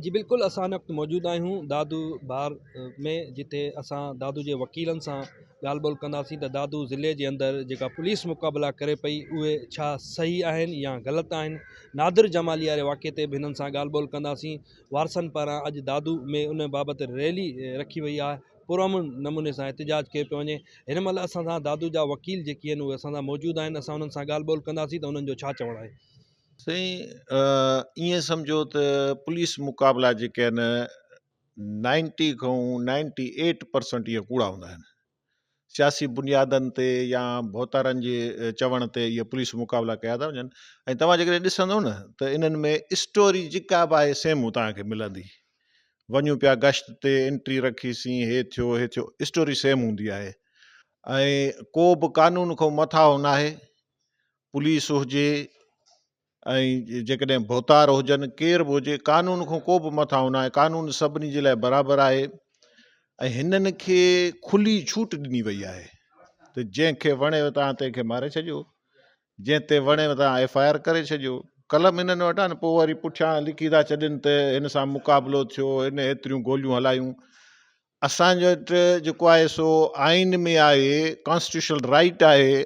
جي بلڪل اسان هن وقت موجود آهيون دادو بار ۾ جتي اسان دادو جي وڪيلن سان ڳالهه ٻولهه ڪنداسين ته دادو ضلعي جي اندر جيڪا پوليس مقابلا ڪري پئي اهي ڇا صحيح آهن يا غلط آهن نادر جمالي واري واقعي تي به هنن سان ڳالهه ٻولهه ڪنداسين وارثن پاران اڄ دادو ۾ ان بابت ريلي رکي وئي آهي پرامن نموني سان احتجاج ڪيو پيو وڃي هن مهل اسان سان دادو جا وڪيل جيڪي آهن اهي اسان سان موجود آهن اسان انهن سان ڳالهه ٻولهه ڪنداسين ته انهن جو ڇا چوڻ آهي سائين ائين سمجهو ته پوليس مقابلا جيڪي آهن نائنٽي کان نائنٽي ايٽ پرسنٽ اهي ڪوڙا هوندا آهن سياسي بنيادن تي يا ڀوتارن جي چوڻ تي اهي پوليس مقابلا ڪيا ٿا وڃن ۽ توهان جيڪڏهن ڏسندو نه ته انهن ۾ اسٽوري جيڪا به آهي سيم توهان کي ملندي وڃون پيا گشت تي انٽري رکيسين هي ٿيو هي ٿيو اسٽوري سيم هوندي آهي ۽ ڪو به قانون کان مٿاهو ناهي پوليس هجي ۽ جيڪڏهن ڀوتار هجن ڪير به هجي قانون کان ڪو به مٿاهون ناهي قانون سڀني جي لاء برابر آهي ۽ هنن کي کلي ڇوٽ ڏني وئي آهي ته جنهن کي وڻي تان تنهن کي ماري ڇڏيو جنهن تي وڻي تان ايف آء آر ڪري ڇڏيو قلم هنن وٽ آهن پوء وري پٺيان لکي ٿا ڇڏين ته هن سان مقابلو ٿيو هن ايتريون گوليون هلايون اسان وٽ جيڪو آهي سو آئين ۾ آهي ڪانسٽيٽيوشنل رائيٽ آهي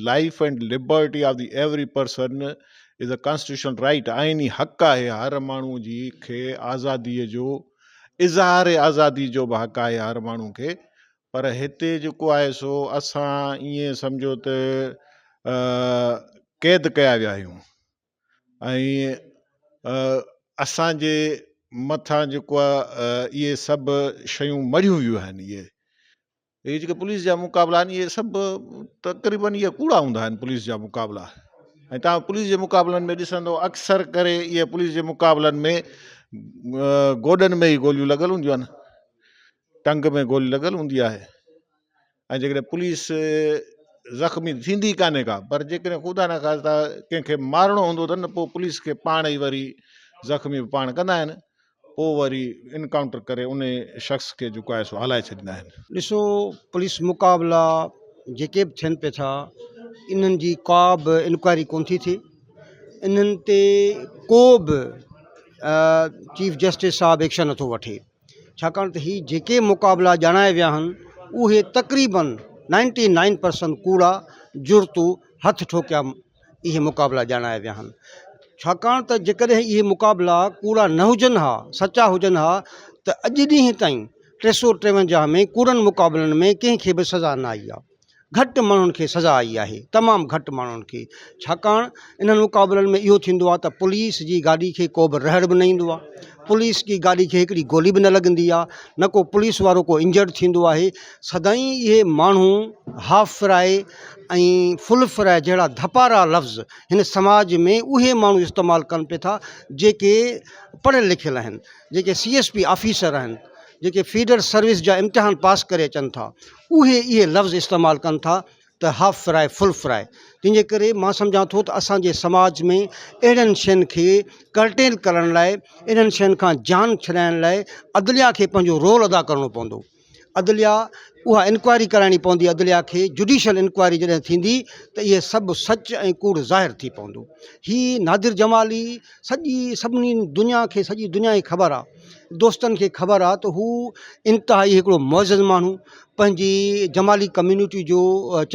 life and liberty of the every person is a constitutional right آئيني حق آهي هر ماڻهو جي کي آزادي جو اظهار آزادي جو به حق آهي هر ماڻهو کي پر هتي جيڪو آهي سو اسان ائين سمجهو ته قيد ڪيا ويا آهيون. ۽ اسان جي مٿان جيڪو آ اهي سڀ شيون مڙهيون ويون آهن اهي اهي جيڪي پوليس جا مقابلا آهن اهي سڀ تقريبا اهي ڪوڙا هوندا آهن پوليس جا مقابلا ۽ تها پوليس جي مقابلن ۾ ڏسندو اڪثر ڪري اهي پوليس جي مقابلن ۾ گوڏن ۾ ئي گوليون لڳل هونديون آهن ٽنگ ۾ گولي لڳل هوندي آهي ۽ جيڪڏهن پوليس زخمي ٿيندي ڪانهي ڪا پر جيڪڏهن خدا نه خاصا ڪنهن کي مارڻو هوندو اٿن ته پوء پوليس کي پاڻ ئي وري زخمي به پاڻ ڪندا آهن پوء وري انڪائونٽر ڪري ان شخص کي جيڪو آهي سو هلائي ڇڏيندا آهن. ڏسو پوليس مقابلا جيڪي به ٿين پئي ٿا انهن جي ڪا به انڪوائري ڪونه ٿي ٿئي انهن تي ڪو به چيف جسٽس صاحب ايڪشن نٿو وٺي. ڇاڪاڻ ته هي جيڪي مقابلا ڄاڻايا ويا آهن اهي تقريبن نائنٽي نائن پرسنٽ ڪوڙا جڙتو هٿ ٺوڪيا اهي مقابلا ڄاڻايا ويا آهن ڇاڪاڻ ته جيڪڏهن اهي مقابلا ڪوڙا نه هجن ها سچا هجن ها ته اڄ ڏينهن تائين ٽي سو ٽيونجاهه ۾ ڪوڙن مقابلن ۾ ڪنهن کي به سزا نه آئي آهي گهٽ ماڻهن کي سزا آئي آهي، تمام گهٽ ماڻهن کي، ڇاڪاڻ انهن مقابلن ۾ اهو ٿيندو آهي ته پوليس جي گاڏي کي ڪوبه رهڙ به نه ايندو آهي، پوليس جي گاڏي کي هڪڙي گولي به نه لڳندي آهي، نه ڪو پوليس وارو ڪو انجرڊ ٿيندو آهي، سدائين اهي ماڻهو هاف فرائي ۽ فل فرائي جهڙا ڌپارا لفظ هن سماج ۾ اهي ماڻهو استعمال ڪن پئي ٿا جيڪي پڙهيل لکيل آهن، جيڪي سي ايس پي آفيسر آهن، جيڪي فيڊر سروس جا امتحان پاس ڪري اچن ٿا. اهي اهي لفظ استعمال ڪن ٿا ته هاف فراء فل فراء تنهن جي ڪري مان سمجهان ٿو ته اسان جي سماج ۾ اهڙين شين کي ڪرٽيل ڪرڻ لاء انهن شين کان جان ڇڏائڻ لاء عدليا کي پنهنجو رول ادا ڪرڻو پوندو عدليا اها انڪوائري ڪرائڻي پوندي عدليا کي جڊيشل انڪوائري جڏهن ٿيندي ته اهي سڀ سچ ۽ ڪوڙ ظاهر ٿي پوندو هي نادر جمالي سڄي سڀني دنيا کي سڄي دنيا کي خبر آ دوستن کي خبر آ ته هو انتهائي هڪڙو معزز ماڻهو پنهنجي جمالي ڪميونٽي جو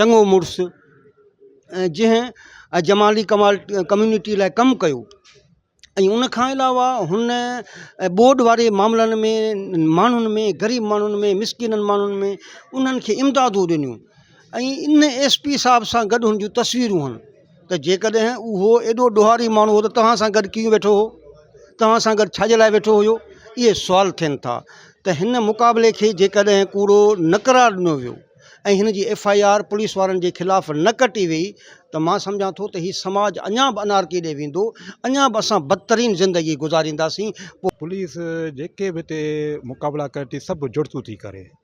چڱو مڙس ۽ جنهن جمالي ڪمال ڪميونٽي لاء ڪم ڪيو ۽ ان کان علاوه هن ٻوڏ واري معاملن ۾ ماڻهن ۾ غريب ماڻهن ۾ مسڪينن ماڻهن ۾ انهن کي امدادون ڏنيون ۽ ان ايس پي صاحب سان گڏ هن جون تصويرون هن ته جيڪڏهن اهو ايڏو ڏوهاري ماڻهو هو ته توهان سان گڏ ڪيئن ويٺو هو توهان سان گڏ ڇاجي لاء ويٺو هيو اهي سوال ٿين ٿا ته هن مقابلي کي جيڪڏهن ڪوڙو نه قرار ڏنو ويو ۽ هن جي ايف آء آر پوليس وارن جي خلاف نه ڪٽي وئي ته مان سمجهان ٿو ته هي سماج اڃا به انارڪي ڏي ويندو اڃا به اسان بدترين زندگي گذارينداسين پوليس جيڪي به هتي مقابلا ڪري ٿي سڀ جڙتون ٿي ڪري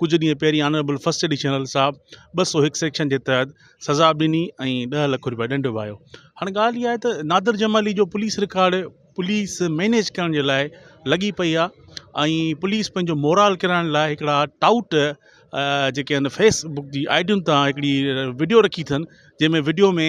ڪجهه ڏينهن پهرين آنريبل فرسٽ ايڊيشنل صاحب ٻه سؤ هڪ سيڪشن جي تحت سزا به ڏني ۽ ڏهه لک روپيا ڏنڊ به آيو هاڻي ڳالهه اها آهي ته نادر جمالي جو پوليس رڪارڊ پوليس مينيج ڪرڻ جي لاء لڳي پئي آهي ۽ پوليس پنهنجو مورال ڪرائڻ لاء هڪڙا ٽائوٽ جيڪي آهن فيسبڪ جي آئيڊين ته هڪڙي وڊيو رکي اٿن جنهن ۾ وڊيو ۾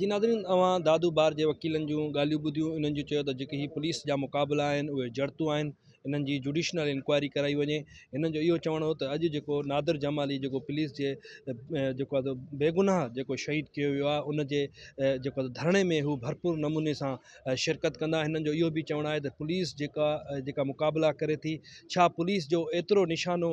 جي ناظرين اوهان دادو بار جي وڪيلن جون ڳالهيون ٻڌيون انهن جو چيو ته جيڪي هي پوليس جا مقابلا آهن اهي جڙتون آهن انهن جي جوڊيشنل انڪوائري ڪرائي وڃي انهن جو اهو چوڻ هو ته اڄ جيڪو نادر جمالي جيڪو پوليس جي جيڪو آهي بيگناهه جيڪو شهيد ڪيو ويو آهي ان جي جيڪو ڌرڻي ۾ هو ڀرپور نموني سان شرڪت ڪندا هنن جو اهو به چوڻ آهي ته پوليس جيڪا جيڪا مقابلا ڪري ٿي ڇا پوليس جو ايترو نشانو